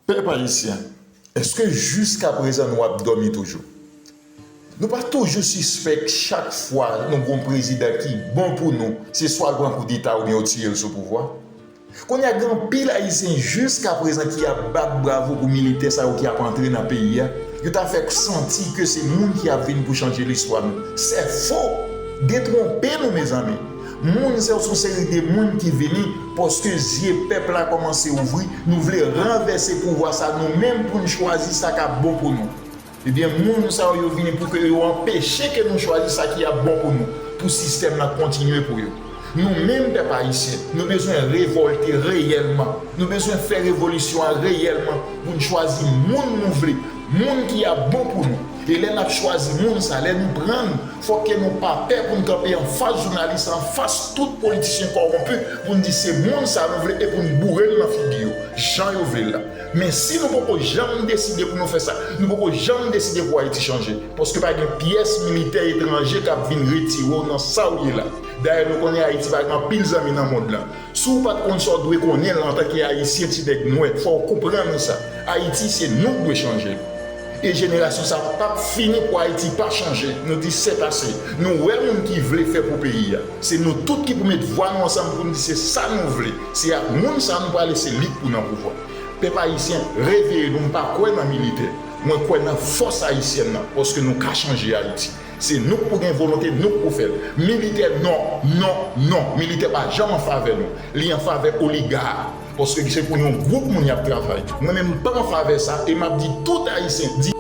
Pèp ayisyen, èske jiskaprezan nou ap dòmi toujou? Nou pa toujou sispèk chak fwa nou gen yon prezidan ki bon pou nou, se swa l pran koudeta oubyen yo tiye l sou pouvwa? Kounye a gen anpil ayisyen jiskaprezan ki ap bat bravo pou militè sa yo ki ap antre nan peyi a, yo ta fè k santi ke se moun ki ap vin pou chanje listwa nou. Sèfo! Detwonpe nou mezanmi! Moun se yon seri de moun ki vini paske zye pèp la kòmanse ouvri nou vle ranvèse pouvwa sa nou menm poun chwazi sa kap bon pou nou ebyen moun sa yo yo vini pou ke yo anpeche ke nou chwazi sa ki ap bon pou nou pou sistèm nan kontinye pou yo nou menm pèp ayisyen nou bezwen revòlte reyèlman nou bezwen fè revolisyon an reyèlman poun chwazi moun nou vle moun ki ap bon pou nou e lè nap chwazi moun sa lè nou pran Fòk ke nou pa pè pou n kanpe anfas jounalis, anfas tout politisyen kòwonpi pou n di se moun sa nou vle e pou n boure l nan figi yo, jan yo vle l la. Men si nou poko janm deside pou nou fè sa, nou poko janm deside pou Ayiti chanje. Paske pa gen pyès militè etranje k ap vin retire w nan sa w ye la. Dayè nou konnen Ayiti pa gen anpil zanmi nan mond lan. Si w pa t konn sa w dwe konnen l antanke Ayisyen ti nèg nwè, fò w konprann sa, Ayiti se nou k dwe chanje l. E jenerasyon sa pap fini pou ayiti pa chanje nou di sèt ase nou wè moun ki vle fè pou peyi a se nou tout ki pou met vwa nou ansanm poun di se sa nou vle se ak moun sa nou prale se li k pou nan pouvwa pèp ayisyen reveye nou m pa kwè nan militè mwen kwè nan fòs ayisyèn nan paske nou ka chanje ayiti se nou k pou gen volonte nou k pou fèl militè non non non militè pa janm an favè nou li an favè oliga. Paske se pou yon gwoup moun yap travay. Mwen menm m pa anfavè sa e map di tout ayisyen di.